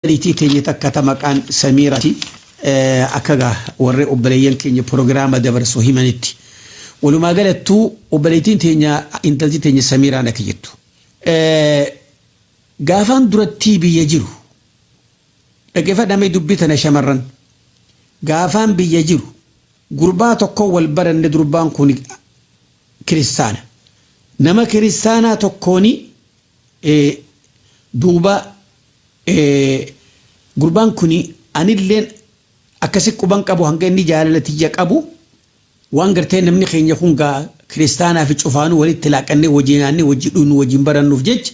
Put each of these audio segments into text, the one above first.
Obboleettii teenya takka ta maqaan Samiirati akka gaa warri obboleeyyan keenya pirogiraama dabarsu himanitti. Walumaa galattuu obboleettiin teenya intalti teenya Samiiraan akka jettu. Gaafaan durattii biyya jiru dhaggeeffadhaa mee dubbii tana shamarran. Gaafaan biyya jiru gurbaa tokkoon wal baranne durbaan kun kiristaana. Nama kiristaanaa tokkoon duuba Gurbaan kuni anilleen akkasi quban qabu hanga inni jaalala tiyya qabu waan gartee namni keenya kun gaa kiristaanaa fi cufaanuu walitti laaqannee wajii nyaannee wajii dhugnuu wajiin barannuuf jecha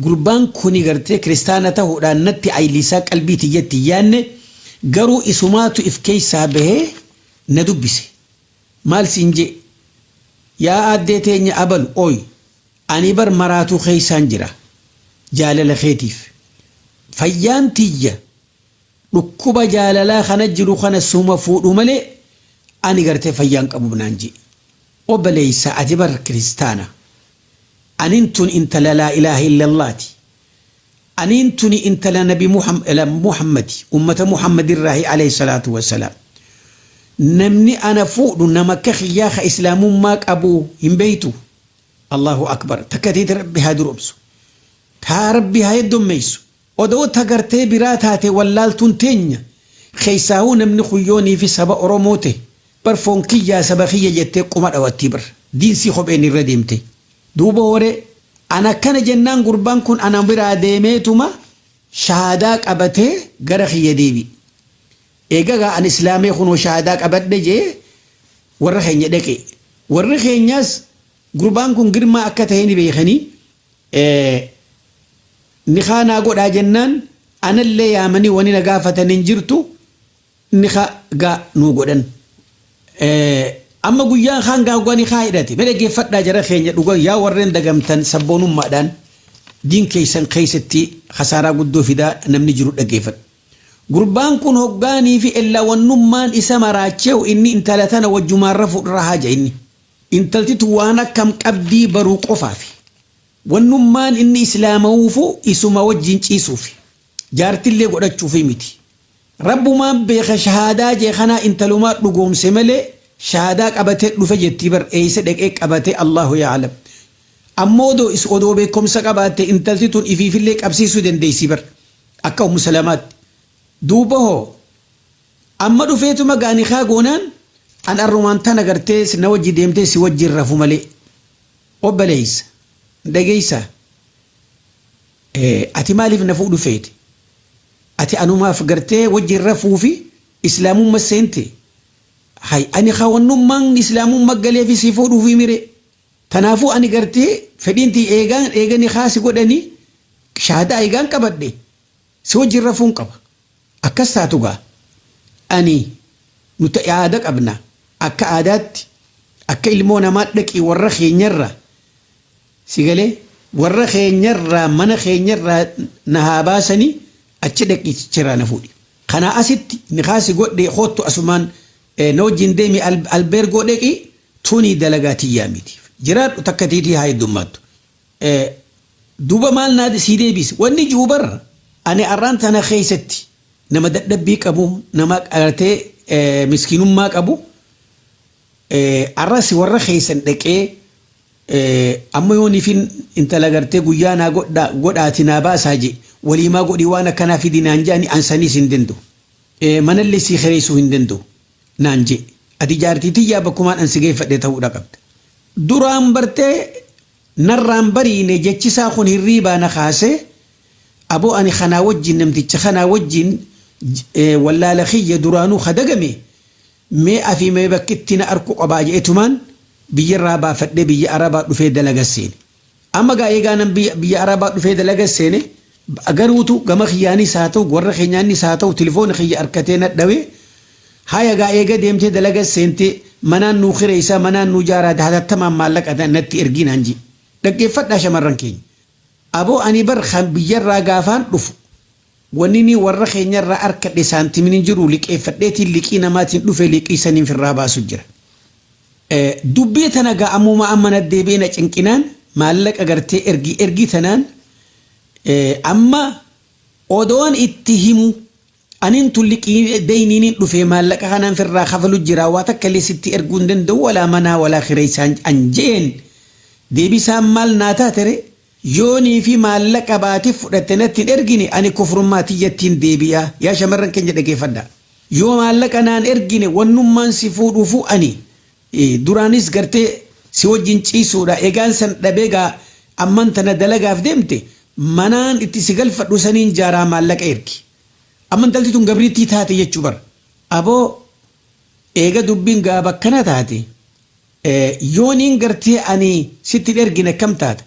gurbaan kuni gartee kiristaana tahuudhaan natti ayliisaa qalbii tiyyatti hin yaanne garuu isumaatu if keessaa bahee na dubbise maal siin jee yaa aaddee teenya abalu oy Ani bar maraatuu keessaan jira jaalala keetiif. Fayyaan tiyya dhukkuba jaalalaa kana jiru kana suma fuudhu malee ani gartee fayyaa hin qabu naan je'e. Obboleessa ati bar kiristaana. Anin tun intala laa ilaaha illallaati. Aniin tuni intala nabi Muhammadi, ummata Muhammad irraahi aleyh salaatu wa salaam. Namni ana fuudhu nama akka kiyyaa ka islaamummaa qabu hin beeytu? Allahu akbar takka teeti rabbi haa duromsu taa rabbi haa heddommeysu odoo ta gartee biraa taate wallaaltuun teenya keessaahuu namni kun yoo niifi saba oromoo tahe bar foon kiyyaa saba kiyya jettee qoma dhawattii bar diinsii kopheen irra deemte duuba waree an akkana jennaan gurbaan kun ana biraa deemeetuma shahaadaa qabatee gara kiyya deebi'e Eega gaa an islaamee kunoo shahadaa qabadhe jee warra keenya dhaqe. Warri keenyaas gurbaan kun girmaa akka tahe ni beekanii nikaa naa godhaa jennaan anallee yaamanii wani na gaafatan hin jirtu nika gaa nuu godhan. Amma guyyaan kaan gaa hoggaa nikaa hidhate mee dhaggeeffadhaa jara keenya dhuga yaa warreen dagamtan sabboonummaadhaan diin keessan keessatti kasaaraa guddoo fidaa namni jiru dhaggeeffadha. Gurbaan kun hoggaanii fi ellawannummaan isa maraacheehu inni intala tana wajjumaan rafu irraa haja inni. Intalti tun waan akkam qabdii baruu qofaafi. Wannummaan inni islaamawuufu isuma wajjin ciisuufi. Jaartillee godhachuufii miti. Rabbumaan beeka shahaadaa jee kanaa intalumaa dhugoomse malee shahaadaa qabatee dhufe jettii bar eeysa dhaqee qabate Allaahu ya'alam. Ammoo odoo beekkomsa qabaatte intalti tun ifiifillee qabsiisuu dandeeysii bar. Akka ummu salamaatti. Duuba hoo Amma dhufeetuma gaa nikhaa goonaan an arrumaan tana gartee na wajji deemtee si wajji hin rafu malee. Obboleessa. Dhageessaa. Ati maaliif na fuudhu feete? Ati anumaaf gartee wajjin rafuu fi islaamumma seente? Hay ani khawannummaan islaamumma galeefi si fuudhuufi miree? Tanaafuu ani gartee fedhiin tiyya eegaan eega nikaah si godhanii shahaadaa eegaan qabadhe si wajjin rafuun qaba. Akkas taatu gaa ani nuti aada qabna akka aadaatti akka ilmoo namaa dhaqii warra keenyarraa si galee warra keenyarraa mana keenyarraa na haa baasanii achi dhaqii chichiraa na fuudhi. Kanaa asitti nikaah si godhe koottu asumaan na wajjin deemi albeergoo dhaqii Tuni dalagaa tiyyaa miti. Jiraadhu takka tiitii haa heddummaattu. Duuba maal naa sii deebiise? Wanni ji'u bar ani arraan tana keessatti nama dadhabbii qabu, nama gartee miskiinummaa qabu arras warra keessan dhaqee amma yooniifin intala gartee guyyaa naa godhaati naa baasaa je'e waliimaa godhii waan akkanaa fidi naan je'ani an saniis hin danda'u. Manallee sii kireessuu hin danda'u. naan je'e. Ati jaartii tiyyaa bakkumaan an si geeffadhe ta'uudha qabda. Duraan bartee narraa hin bariine jechi isaa kun hirriibaa na kaasee aboo ani kanaa wajjiin namticha kanaa wajjiin wallaala kiyya duraanuu ka dagame mee afi mee bakki itti na arku qabaa je'etumaan biyyarraa baafadhee biyya Arabaa dhufee dalaga seene. Amma gaa eegaa nan biyya biyya arabaa dhufee dalaga seene garuutu gama kiyyaanis haa ta'u warra keenyaannis haa ta'u tilifoona kiyya arkatee na dhawe haya gaa eega deemtee dalaga seente manaan nuu kireessaa manaan nuu jaaraa hatattamaan maallaqa na- natti ergii naan jee dhaggeeffadhaa shamarran keenya aboo ani bar kan biyyarraa gaafaan dhufu Wanini warra keenya irraa arkadhe saantimin hin jiru liqeefadheetiin liqii namaatiin dhufe liqii saniin firraa baasu jira. Dubbii tana gaa ammuma amma na deebi'ee na cinqinaan maallaqa gartee ergi ergi tanaan amma odoon itti himu anin tun liqii deyniinin dhufe maallaqa kanaan firraa kafalu jira waa takka illee sitti erguu hin danda'u walaa manaa walaa kireessaan an jeen deebisaan maal naa taatere Yoo niifi maallaqa baati fudhatte natti hin ergine ani kufrummaa tiyyattiin deebi'a yaa shamarran keenya dhageeffadhaa yoo maallaqa naan ergine wannummaan si fuudhuufuu ani duraanis gartee si wajjin ciisuudha egaan san dhabee gaa amman tana dalagaaf deemte manaan itti si galfadhu saniin jaaraa maallaqa ergi amma intalti tun gabriittii taate jechuu bar aboo eega dubbiin gaa bakkana taate Yooniin gartee ani sitti hin ergine akkam taata?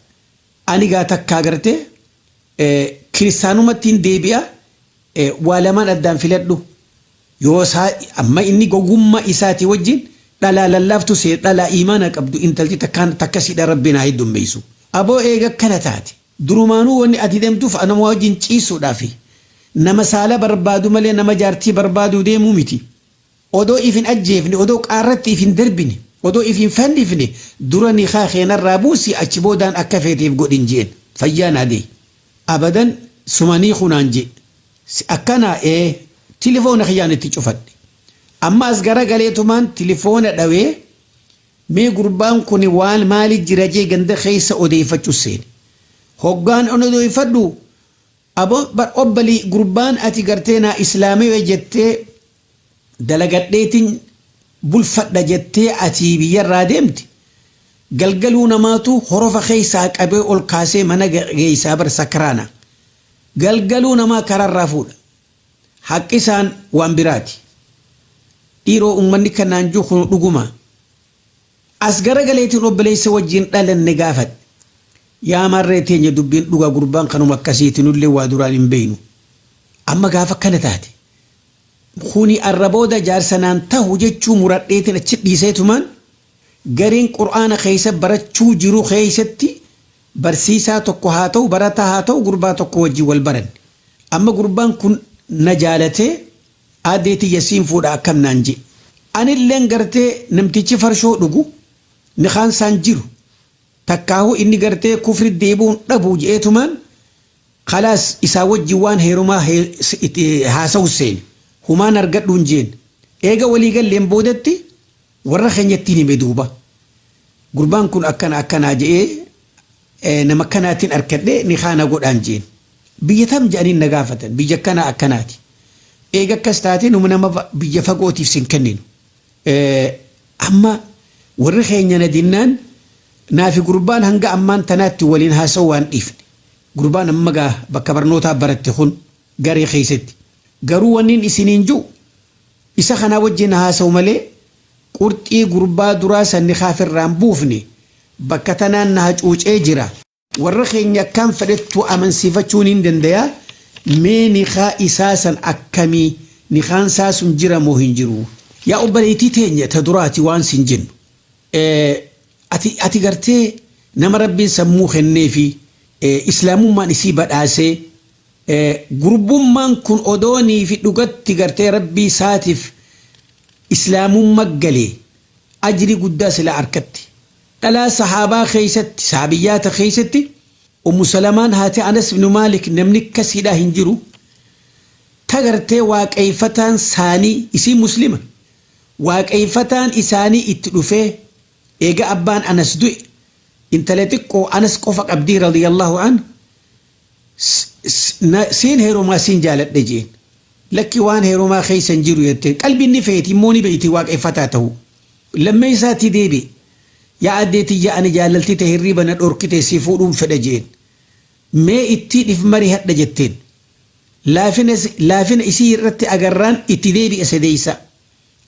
Ani gaa takkaa gartee kiristaanumattiin deebi'a waa lamaan addaan filadhu. Yoo isaa amma inni gowwummaa isaatii wajjin dhalaa lallaaftu seena dhalaa iimaana qabdu intalti takkaan takka siidha rabbiin haa heddummeessu. Aboo eega akkana taate durumaanuu wanni ati deemtuuf anuma wajjin ciisuudhaafi nama saala barbaadu malee nama jaartii barbaaduu deemuu miti. Odoo if hin ajjeefne, odoo qaarratti if hin darbine, odoo if hin fannifne dura nikaa kee narraa buusi achi boodaan akka feete if godhin je'een. Fayyaa naa gayi. Abadan suma ni hiiku naan je'e. Si akkanaa? Ee. Tilifoona kiyyaan itti cufadhe. Amma as garagaleetumaan tilifoona dhawee mee gurbaan kuni waan maali jira je'e ganda keessa odeeyfachu seene. Hoggaan onodeeyfadhu. Abo bar obbali gurbaan ati gartee naa islaamiwe jettee dalagadheetin bulfadha jettee atii biyyarraa deemte galgaluu namaatu horofa keessaa qabee ol kaasee mana geessaa bar sakraana galgaluu namaa kararraa fuudha haqqisaan waan biraati dhiiroo ummanni kanaan juu kunu dhugumaa As garagaleetiin obboleessa wajjiin dhalanne gaafadhe. Yaa maarree teenya dubbiin dhugaa gurbaan kanuma akkasiiti nullee waa duraan hin beeynu. Amma gaafa akkana taate kuni arra booda jaarsa naan tahu jechuu muradheetiin achi dhiiseetumaan gareen qur'aana keessa barachuu jiru keessatti barsiisaa tokko haa tahu barataa haa tahu gurbaa tokko wajjiin wal baranne. Amma gurbaan kun na jaalatee. Aadee tiyya siin fuudha akkam naan je'e. Anilleen gartee namtichi farshoo dhugu nikaan isaan jiru takkaahuu inni gartee kufri deebi'uun dhabu je'eetumaan khalaas isaa wajjin waan heerumaa haasawuuf seene. Humaan argadhu hin jeenne. Eega walii galleen boodatti Warra keenyattiin hime duuba. Gurbaan kun akkana akkanaa je'ee nama akkanaatiin arkadhee nikaa na godhaan je'een. Biyya tam je'aniin na gaafatan. Biyya akkanaa akkanaati. Eega akkas taate numa nama biyya fagootiif sin kenninu. Amma warri keenya na dinnaan naafi gurbaan hanga ammaan tanaatti waliin haasawuu waan dhiifne. Gurbaan amma gaa bakka barnootaa baratte kun garee keessatti. Garuu wannin isiniin je'u. Isa kanaa wajjin haasawu malee qurxii gurbaa duraa san nikaaf irraa hin buufne bakka tanaan na hacuucee jira. Warra keenya akkaan fedhettuu amansiifachuu niin dandayaa mee nikaa isaa san akkamii nikaan isaa sun jira moo hin jiruu. Yaa obboleeytii teenya ta duraati waan siin jennu ati ati gartee nama rabbiin sammuu kenneefi islaamummaan isii badhaasee Gurbumman kun odoo nifi dhugatti gartee rabbii saatif islamumma galee ajrii guddaa silaa arkatti dhalaa sahabaa keessatti sahabiyyaata keessatti ummu salamaan haati anas ibnu maalik namni akkasiidhaa hin jiru ta gartee waaqeeyfataan saanii isiin muslima waaqeeyfataan isaanii itti dhufee eega abbaan anas du'e intala xiqqoo anas qofa qabdii radiyallahu anhu Siin heerumaa siin jaaladhe jeen. Lakki waan heerumaa keessa hin jiru jetteen. Qalbiin ni feeti immoo ni beeyti waaqeffataa ta'uu. Lammeessaatti deebi'e. Yaa addee tiyya ani jaalalti tee hirriiba na dhorkite si fuudhuun fedha jeen. Mee ittii dhif marihadha jetteen. Laafina isii irratti agarraan itti deebi'e sadeessaa.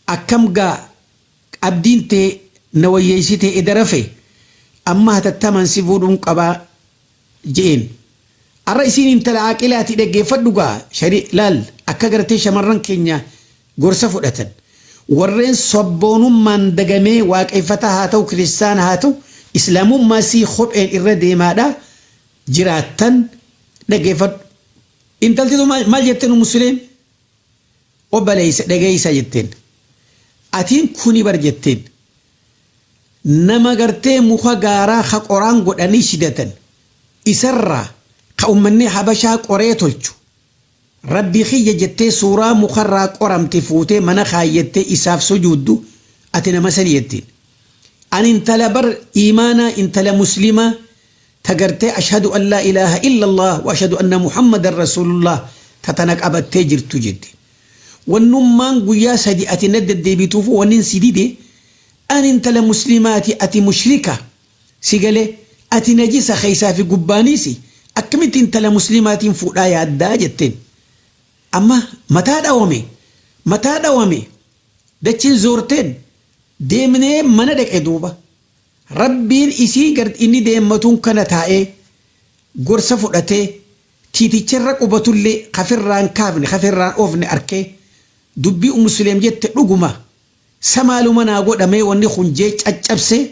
Akkam gaa abdiin tee na wayyeessitee eda rafee? Amma hatattamaan si fuudhuun qabaa. je'een. Arra isiin intala aaqilaati dhaggeeffadhu gaa shari laal akka gartee shamarran keenya gorsa fudhatan. Warreen sabboonummaan dagamee waaqeeffataa haa ta'u kiristaana haa ta'u islaamummaa isii kopheen irra deemaadha jiraattan dhaggeeffadhu. Intalti tun maal jette nu muslim? obbaleysa dhageysa jetteen atiin kuni bar jetteen nama gartee muka gaaraa ka qoraan godhanii shidatan isarraa ka ummanni habashaa qoree tolchu rabbi kiyya jettee suuraa mukarraa qoramte fuutee mana kaayyattee isaaf sujuuddu ati nama sani jetteen ani intala bar iimaanaa intala muslimaa ta gartee ashadu an laa ilaaha illa allaah wa ashadu anna muhammadan rasuulullaah ta tana qabattee jirtu jette wannummaan guyyaa sadi ati na deddeebituufuu wannin si dide ani intala muslimaati ati mushrika si galee ati najisa keessaa fi gubbaaniisi akkamitti intala muslimaatiin fuudhaa yaaddaa jetteen amma mataa dhawame mataa dhawame dachiin zoorteen deemnee mana dhaqe duuba Rabbiin isii gard inni deemmatuun kana taa'ee gorsa fudhatee tiiticha irra qubatullee ka firraa hin kaafne ka firraa hin oofne arkee dubbii Ummu Suleym jette dhuguma sa maaluma naa godha mee wanni kun jee caccabsee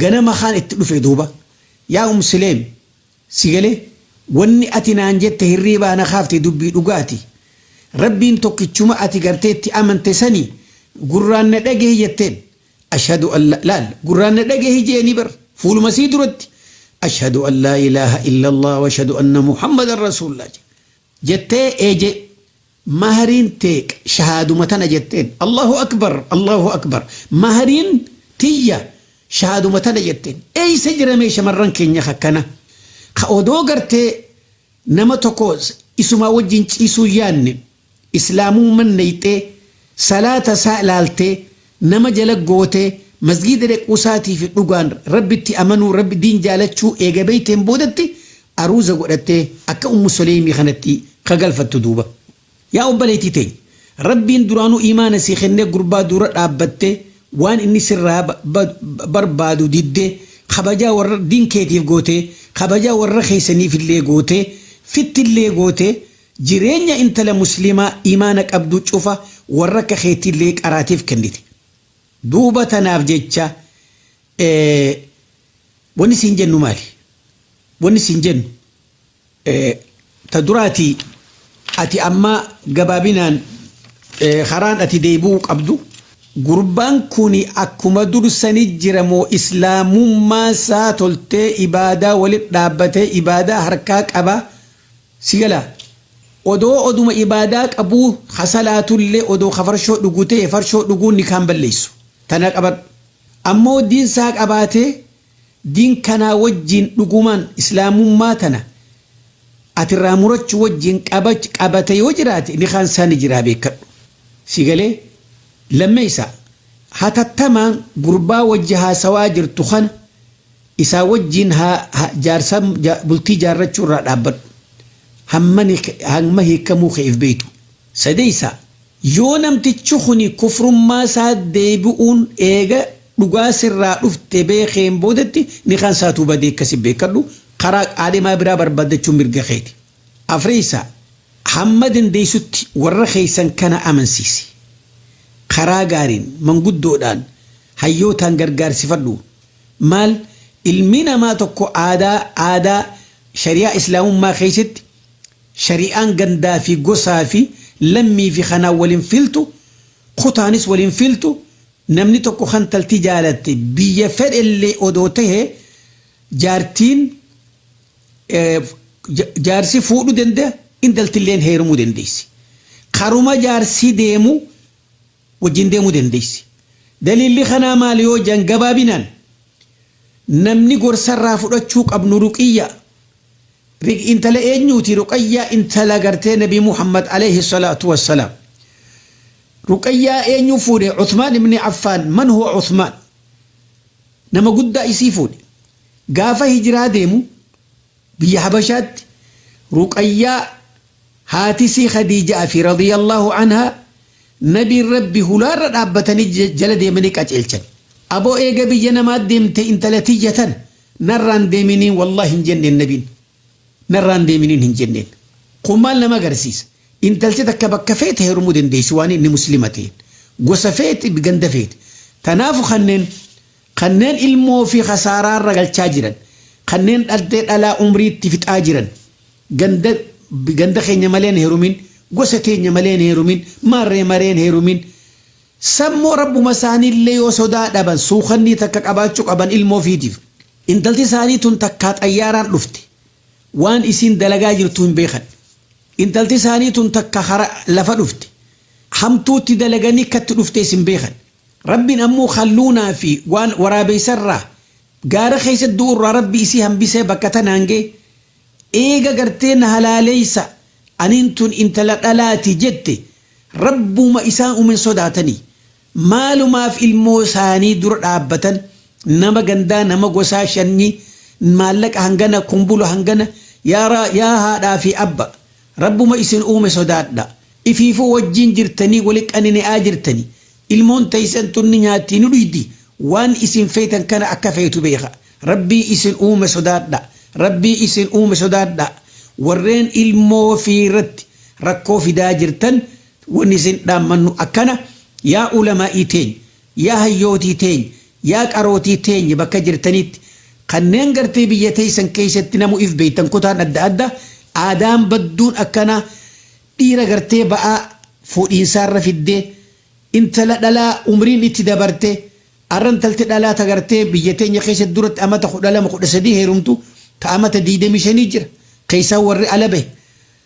ganama kaan itti dhufe duuba yaa Ummu Suleym si galee wanni ati naan jette hirriibaa na kaafte dubbii dhugaati Rabbiin tokkichuma ati gartee itti amante sani gurraan na dhagehi jetteen Ashhadu an la laal gurraan na dhagahi jeeni bar fuuluma sii duratti Ashhadu an laa ilaaha illallah washhadu anna muhammadan rasuullah je jettee ee je mahriin tee qa shahaaduma tana jetteen Allahu akbar Allahu akbar mahriin tiyya shahaaduma tana jetteen eeysa jira mee shamarran keenya ka akkana ka odoo gartee nama tokko isumaa wajjin ciisuu yaanne islaamumman neyxee salaata isaa laaltee nama jala gootee masgiida dhequu isaatiifi dhugaan rabbitti amanuu rabbi diin jaalachuu eega beyteen boodatti aruuza godhattee akka ummu soleymii kanatti ka galfattu duuba yaa obbaleytii teenya rabbiin duraanuu iimaana sii kennee gurbaa duura dhaabbattee waan inni sirraa barbaadu diddee kabajaa warra diin keetiif gootee kabajaa warra keysaniifillee gootee fittillee gootee Jireenya intala muslimaa iimaana qabduu cufa warra akka keetiillee qaraatiif kennite. Duuba tanaaf jecha wanni siin jennu maali? Wanni siin jennu ta duraatii ati amma gabaabinaan karaan ati deebi'uu qabdu gurbaan kun akkuma dur sani jira moo islaamummaan isaa toltee ibaadaa walitti dhaabbatee ibaadaa harkaa qabaa? Si galaa odoo oduma ibaadaa qabuu ha salaatullee odoo ka farshoo dhugu ta'e farshoo dhuguun nikaa hin balleessu tana qabadhu ammoo diin saa qabaatee diin kanaa wajjiin dhugumaan islaamummaa tana ati irraa murachu wajjiin qabate yoo jiraate nikaan saa ni jiraa beekkadhu si galee lammeeysaa hatattamaan gurbaa wajji haasawaa jirtu kana Isaa wajjiin jaarsa bultii jaarrachuu irraa dhaabbadhu. Hamma hiikkamuu keef beektu. Sadeessaa, yoo namtichi kuni kufrummaa isaa deebi'uun eega dhugaa sirraa dhufte beekeen boodatti nikaan isaatuu badee akkasi beekkadhu, karaa qaalimaa biraa barbaaddachuun mirga keeti. Afreessaa, hamma dandeessutti warra keessan kana amansiisi. Karaa gaariin, manguddoodhaan, hayyootaan gargaarsifadhu. Maal ilmi namaa tokko aadaa aadaa shari'aa islaamummaa keessatti shari'aan gandaa fi gosaa fi lammii fi kanaan wal hin filtu kutaanis wal hin filtu namni tokko kan taltii jaalatte biyya fedhe illee odoo tahe jaartiin jaarsi fuudhu danda'a intalti illeen heerumuu dandeessi karuma jaarsi deemu wajjin deemuu dandeessi. Daliilli kanaa maali yoo jedhan gabaabinaan namni gorsa irraa fudhachuu qabnu ruqiyyaa Rig intala eenyuuti ruqayyaa intala gartee nabi muhammad alayhi salaatu wassalaam ruqayyaa eenyu fuudhe uthmaan ibni affaan man huwa uthmaan nama guddaa isii fuudhe gaafa hijraa deemu Biyya Habashaatti Ruqayyaa haatisii Khadiija'aa fi radiyallaahu anhaa Nabiin Rabbi hulaarra dhaabbatanii jala deemanii qaceelchan. Aboo eega biyya namaa deemtee intala tiyya tana narraan deeminiin wallaahi hin jenneen Nabiin. Narraan deeminiin hin jenneen. Kun maal nama agarsiisa? Intalti takka bakka feete heerumuu dandeessi waan inni Muslima ta'een. Gosa feete, ganda feete. Tanaafu kanneen. Kanneen ilmoo ofii kasaaraarra galchaa jiran, kanneen dhaldhee dhalaa umriitti fixaa jiran, ganda ganda keenya malee hin heerumin, gosa teenya malee hin heerumin, maarree maree hin heerumin, sanmoo rabbuma isaaniillee yoo sodaa dhaban suukannii takka qabaachuu qaban ilmoo ofiitiif. Intalti isaanii tun takkaa xayyaaraan dhufte, waan isiin dalagaa jirtu hin beekan. Intalti isaanii tun takka karaa lafa dhufte, hamtuutti dalaganii akka itti dhuftees hin beekan. Rabbiin ammoo Khalluunaa fi waan waraabeysa irraa, gaara keeysatti du'u irraa Rabbi isii hambisee bakka tanaan gaye, eega gartee na halaaleysa, aniin tun intala dhalaati jette, Rabbuma isaan uume hin sodaatanii? Maalumaaf ilmoo isaanii dura dhaabbatan, nama gandaa, nama gosaa, shanyii, maallaqa hangana, kumbula hangana, yaa haadhaa fi abba! Rabbuma isin uume sodaadha. Ifiifuu wajjiin jirtanii wali qanine'aa jirtani. Ilmoon teeysan tun ni nyaatti ni dhuydi. Waan isin feetan kana akka feetu beekha. Rabbii isin uume sodaadha. Rabbii isin uume sodaadha. Warreen ilmoo ofii irratti rakkoo fidaa jirtan wanni isin dhaammannu akkana, Yaa ulamaa'ii teenya! Yaa hayyootii teenya, yaa qarootii teenya bakka jirtanitti kanneen gartee biyya teessan keessatti namu if beektan kutaan adda adda aadaan badduun akkanaa dhiira gartee ba'aa fuudhiinsaarra fiddee intala dhalaa umriin itti dabarte arra intalti dhalaa ta gartee biyya teenya keessatti duratti amata 12, 13 heerumtu ta amata 25 jira keessaa warri ala bahe